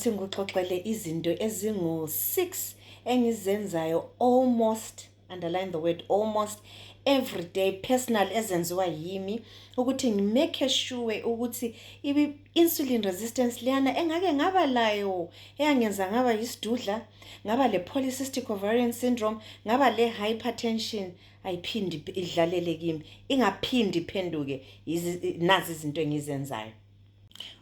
Ngathi ngikuxoxele izinto ezingu-six engizenzayo almost underline the word almost every day personal ezenziwa yimi ukuthi ngimake sure ukuthi i-insulin resistance leyana engake ngaba layo eyangenza ngaba yisidudla ngaba le-polycystic ovarian syndrome ngaba le-hypertension ayiphindi idlalele kimi ingaphindi iphenduke nazi izinto engizenzayo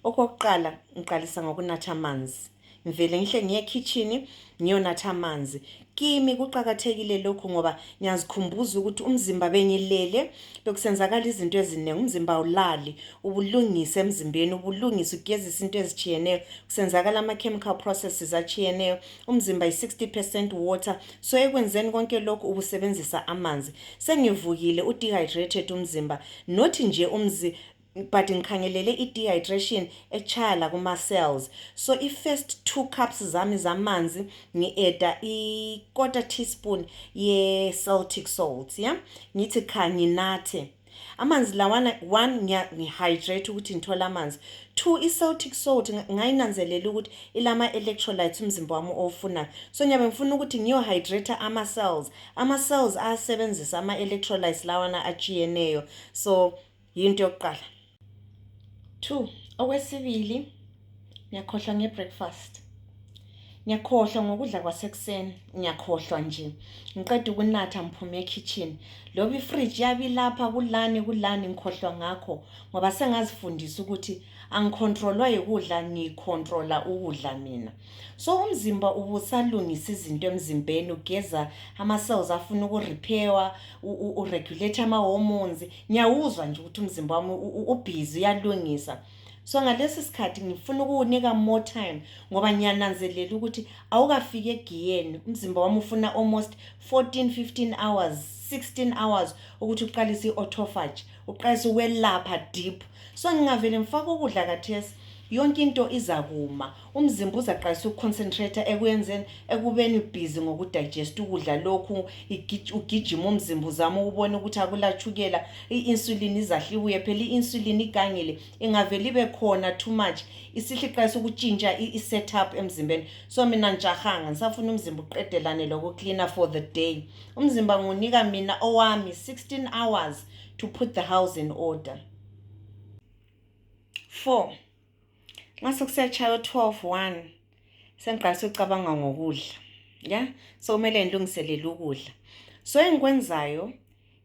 Okokuqala ngiqalisa ngokunatha amanzi ngivele ngihle ngiye ekhitshini ngiyonatha amanzi kimi kuqakathekile lokhu ngoba ngiyazikhumbuza ukuthi umzimba bengilele bekusenzakala izinto eziningi umzimba awulali ubulungise emzimbeni ubulungise ugezise into ezitshiyeneyo kusenzakala ama-chemical processes atshiyeneyo umzimba yi-60 percent water so ekwenzeni konke lokhu ubusebenzisa amanzi sengivukile u-dehydrated umzimba not nje umzi but ngikhangelele i-dehydration etshaya lakuma-cells so i-first two cups zami zamanzi ngi-eda i-quarter teaspoon ye-celtic salt ya ngithi kha nginathe amanzi lawana one ngihydrate ukuthi ngithole amanzi two i-celtic salt ngayinanzelela ukuthi ilama-electrolytes umzimba wami owufunayo so ngiyabe ngifuna ukuthi ngiyohydrate ama-cells ama-cells ayasebenzisa ama-electrolytes lawana atshiyeneyo so yinto yokuqala two okwesibili ngiyakhohlwa nge-breakfast ngiyakhohlwa ngokudla kwasekuseni ngiyakhohlwa nje ngiqeda ukunatha ngiphume ekhitshini loba ifriji yabilapha kulani kulani ngikhohlwa ngakho ngoba sengazifundisa ukuthi angikhontrolwa yikudla ngikhontrola ukudla mina so umzimba ubusalungisa izinto emzimbeni ugeza ama-cells afuna ukurepairwa uregulate ama-hormones ngiyawuzwa nje ukuthi umzimba wami ubhizi uyalungisa so ngalesi sikhathi ngifuna ukuwunika more time ngoba ngiyananzelela ukuthi awukafiki egiyeni umzimba wami ufuna almost 14 15 hours 16 hours ukuthi uqalise i-autofage uqalise ukwelapha deep so ngingavele ngifake ukudla kathesi yonke into izakuma umzimba uzaqalisa ukuconcentrate ekwenzeni ekubeni ubhizi ngokudigest ukudla lokhu ugijima umzimba uzama ukubona ukuthi akulatshukela i-insulin izahlibuye phela i-insulin igangile ingavele ibe khona too much isihliqalisa ukutshintsha i-set up emzimbeni so mina ngijahanga ngisafuna umzimba uqedelane lokucleaner for the day umzimba ngunika mina owami 16 hours to put the house in order four nxa sekusiyatshaya o-twelve one sengiqala sekucabanga ngokudla ya sokumele ngilungiselele ukudla so engikwenzayo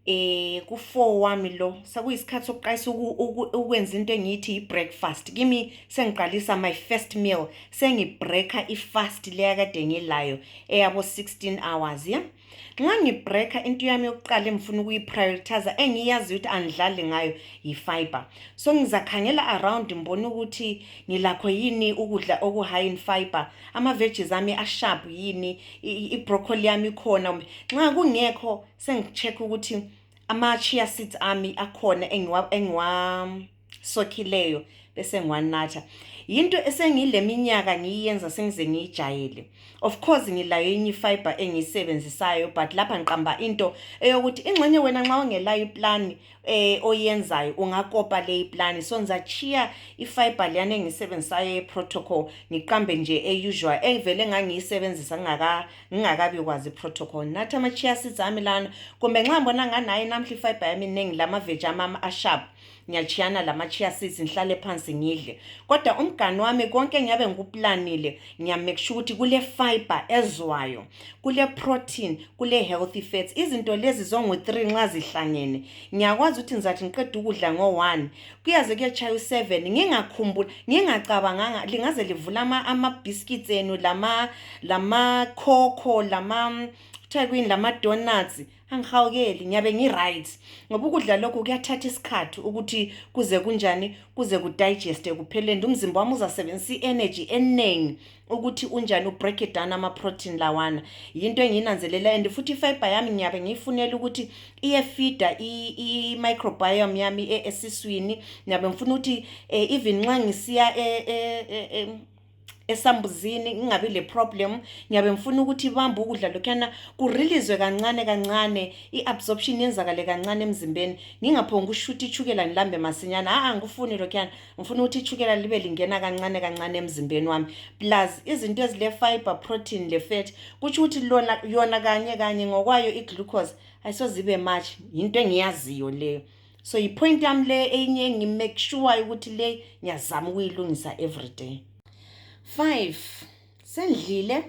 eh ku-four wami lo sekuyisikhathi sokuqalisa ukwenza into engiyithi yi-breakfast kimi sengiqalisa my first meal sengibreaker i-fast leya kade ngilayo eyabo-sixteen hours ya yeah? nxa ngibreaka into yami yokuqala engifuna ukuyiprioritiza engiyaziyo ukuthi angidlali ngayo yifiber so ngizakhangela around ngibone ukuthi ngilakho yini ukudla okuhigh in fiber ama-veggies ami asharp yini ibroccoli yami ikhona kumbe nxa kungekho sengi-check ukuthi ama-chia seeds ami akhona engiwa, engiwa sokhileyo bese ngiwanatha yinto esengileminyaka ngiyiyenza sengize ngiyijayele of course ngilayo enye ifiber engiyisebenzisayo but lapha ngiqamba into eyokuthi ingxenye wena nxa ungelayo iplani eh oyenzayo ungakopa le iplani so ngizachiya ifiber leyana engiyisebenzisayo yeprotocol ngiqambe nje eusual engivele ngangiyisebenzisa ngingaka ngingakabi kwazi iprotocol nathi ama-chia seeds ami lana kumbe nxa ngibona nganayo namhla ifiber yami iningi lama-veji amami asharp ngiyachiyana lama-chia seeds ngihlale phansi ngidle kodwa umgani wami konke ngiyabe ngikuplanile ngiyamake sure ukuthi kule-fiber ezwayo kule-protein kule-healthy fats izinto lezi zongu-three nxa zihlangene ngiyakwazi ukuthi ngizathi ngiqeda ukudla ngo-one kuyaze kuyetshaya u-seven ngingakhumbula ngingacabanganga lingaze livula ama-biscuits enu lama-coco lama kuthiwa kwini lama-donuts angihawukeli ngiyabe ngi-right ngoba ukudla lokhu kuyathatha isikhathi ukuthi kuze kunjani kuze kudigeste kuphelende umzimba wami uzasebenzisa i-energy eningi ukuthi unjani ubreak it down ama-protein lawana yinto engiyinanzelela and futhi ifiber yami ngiyabe ngiyifunela ukuthi iyefida i-microbiome yami e-, esiswini ngiyabe ngifuna ukuthi eh, even nxa ngisiya e-, e-, esambuzini ngingabi le problem ngiyabe ngifuna ukuthi ibambe ukudla lokhuyana kurilizwe kancane kancane i-absorption yenzakale kancane emzimbeni ngingaphongi ukushutha itshukela ngilambe masinyana a-a ngikufuni lokhuyana ngifuna ukuthi itshukela libe lingena kancane kancane emzimbeni wami plus izinto ezile-fiber protein le-fat kutsho ukuthi lona yona kanye kanye ngokwayo i-glucose ayisozibe much yinto engiyaziyo leyo so yipoint yami le enye ngimake sure ukuthi le ngiyazama ukuyilungisa every day five sendlile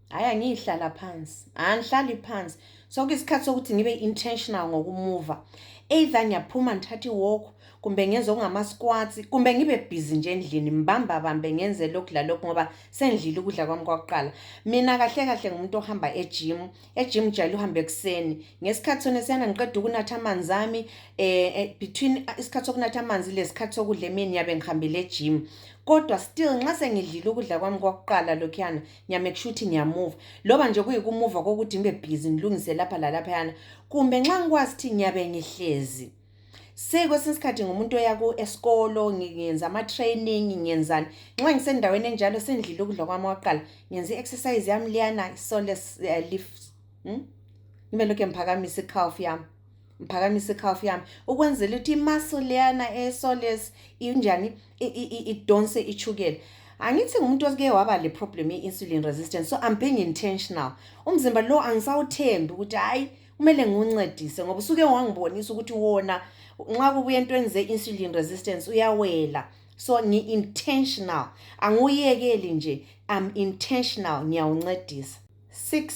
hhayi angiyihlala phansi angihlali phansi so kuyisikhathi sokuthi ngibe intentional ngokumuva either ngiyaphuma ngithathe iwalk kumbe ngenze okungama-squats kumbe ngibe bhizi nje endlini ngibambabambe ngenze lokhu lalokhu ngoba sendlile ukudla kwami kwakuqala mina kahle kahle ngumuntu ohamba ejimu ejimu jayele uhambe ekuseni ngesikhathi sona siyana ngiqeda ukunatha amanzi ami um between isikhathi sokunatha amanzi lesikhathi sokudla emini ngiyabe ngihambele ejimu kodwa still nxa sengidlile ukudla kwami kwakuqala lokhuyana ngiyamake sure ukuthi ngiyamuva loba nje kuyikumuva kokuthi ngibe bhizi ngilungise lapha lalaphayana kumbe nxa ngikwazi ukuthi ngiyabe ngihlezi sekwesinye isikhathi ngumuntu oya ku esikolo ngiyenza ama-training ngiyenzani nxa ngisendaweni enjalo sendlile ukudla kwami wakuqala ngenza i-exercise yami liyana isole eh, lift hmm? ngibe lokhu ngiphakamisa i-calf yami ngiphakamisa i-calf yami ukwenzela ukuthi imaso leyana esoles injani idonse ichukela angithi ngumuntu osike waba le problem ye-insulin resistance so i'm being intentional umzimba lo angisawuthembi ukuthi hhayi kumele ngiwuncedise ngoba usuke wangibonisa ukuthi wona nxa kubuya entweni ze-insulin resistance uyawela so ngi-intentional angiwuyekeli nje am intentional ngiyawuncedisa six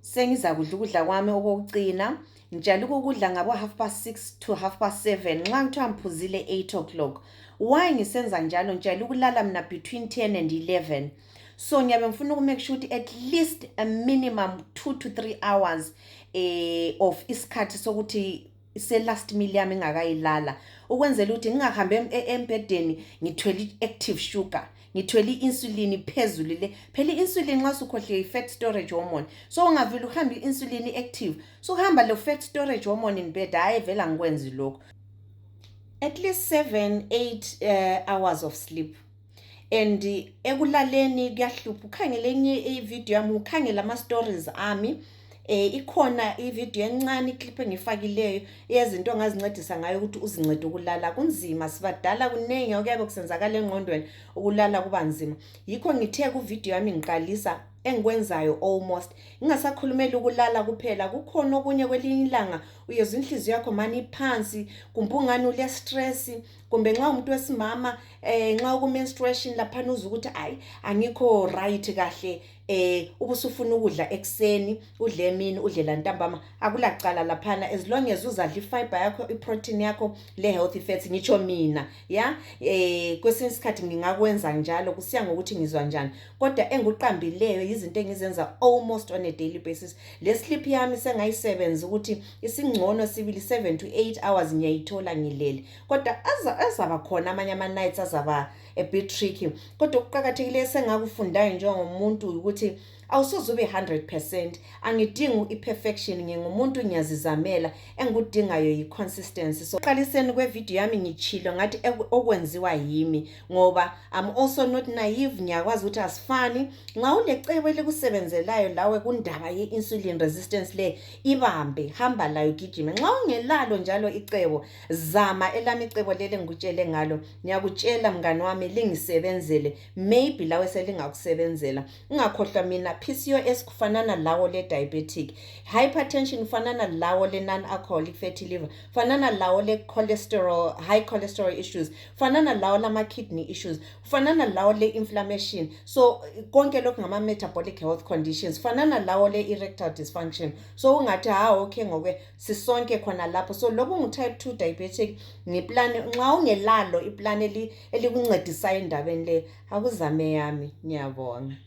sengizakudla ukudla kwami okokucina ngijala ukukudla ngabo-half past six to half past seven nxa ngithiwa ngiphuzile eight o'clock why ngisenza njalo ngijala ukulala mina between ten and eleven 11 so ngiyabe ngifuna ukumake sure ukuthi at least a minimum two to three hours eh, of isikhathi sokuthi se-last meal yami engakayilala ukwenzela ukuthi ngingahambi e, embhedeni ngithwele i-active sugar ngithwele i-insulin phezulu le phela i-insulin nxa sukhohliwe i-fat storage hormone so ungavile uhambe i-insulin i-active sukuhamba lo fat storage hormone in bed hhayi vela ngikwenzi lokhu at least seven eight uh, hours of sleep and ekulaleni kuyahlupha ukhangele enye ivideo yami ukhangele ama-stories ami eh ikhona ivideo encane iclip engifakileyo eyezinto ongazincedisa ngayo ukuthi uzincede ukulala kunzima sibadala kuningi okuyabe kusenzakala engqondweni ukulala kuba nzima yikho ngithe kuvideo yami ngiqalisa engikwenzayo almost ngingasakhulumeli ukulala kuphela kukhona okunye kwelinye ilanga uyezwa inhliziyo yakho mani iphansi kumbe ungani ulestress kumbe nxa umuntu wesimama eh nxa uku menstruation lapha uza ukuthi ayi angikho right kahle eh ubusufuna ukudla ekseni udle emini udle lantambama akulacala laphana as long as uzadla ifiber yakho iprotein yakho le healthy fats ngitsho mina ya eh kwesinye isikhathi ngingakwenza njalo kusiya ngokuthi ngizwa njani kodwa enguqambileyo yizinto engizenza almost on a daily basis le sleep yami sengayisebenza ukuthi isingcono sibili 7 to 8 hours ngiyayithola ngilele kodwa azaba khona amanye ama-nights azaba a bit tricky kodwa okuqakathekileyo sengakufundayo njengomuntu ukuthi awusoze ube 100 percent angidingi i-perfection ngingumuntu ngiyazizamela engikudingayo yi-consistency so qaliseni kwevidiyo yami ngitshilo ngathi okwenziwa yimi ngoba am also not naive ngiyakwazi ukuthi asifani nxa ulecebo elikusebenzelayo lawe kundaba ye-insulin resistance le ibambe hamba layo gijime nxa ungelalo njalo icebo zama elami icebo leli engikutshele ngalo ngiyakutshela mngane wami lingisebenzele maybe lawe selingakusebenzela ungakhohlwa mina pcos kufanana lawo le diabetic hypertension kufanana lawo le non alcoholic fatty liver kufanana lawo le cholesterol high cholesterol issues kufanana lawo lama kidney issues fanana lawo le inflammation so konke lokhu ngama metabolic health conditions fanana lawo le erectile dysfunction so ungathi ha okay ngoke sisonke khona lapho so lokhu ngu type 2 diabetic ngiplan nxa ungelalo iplan elikuncedisayo endabeni le akuzame yami ngiyabonga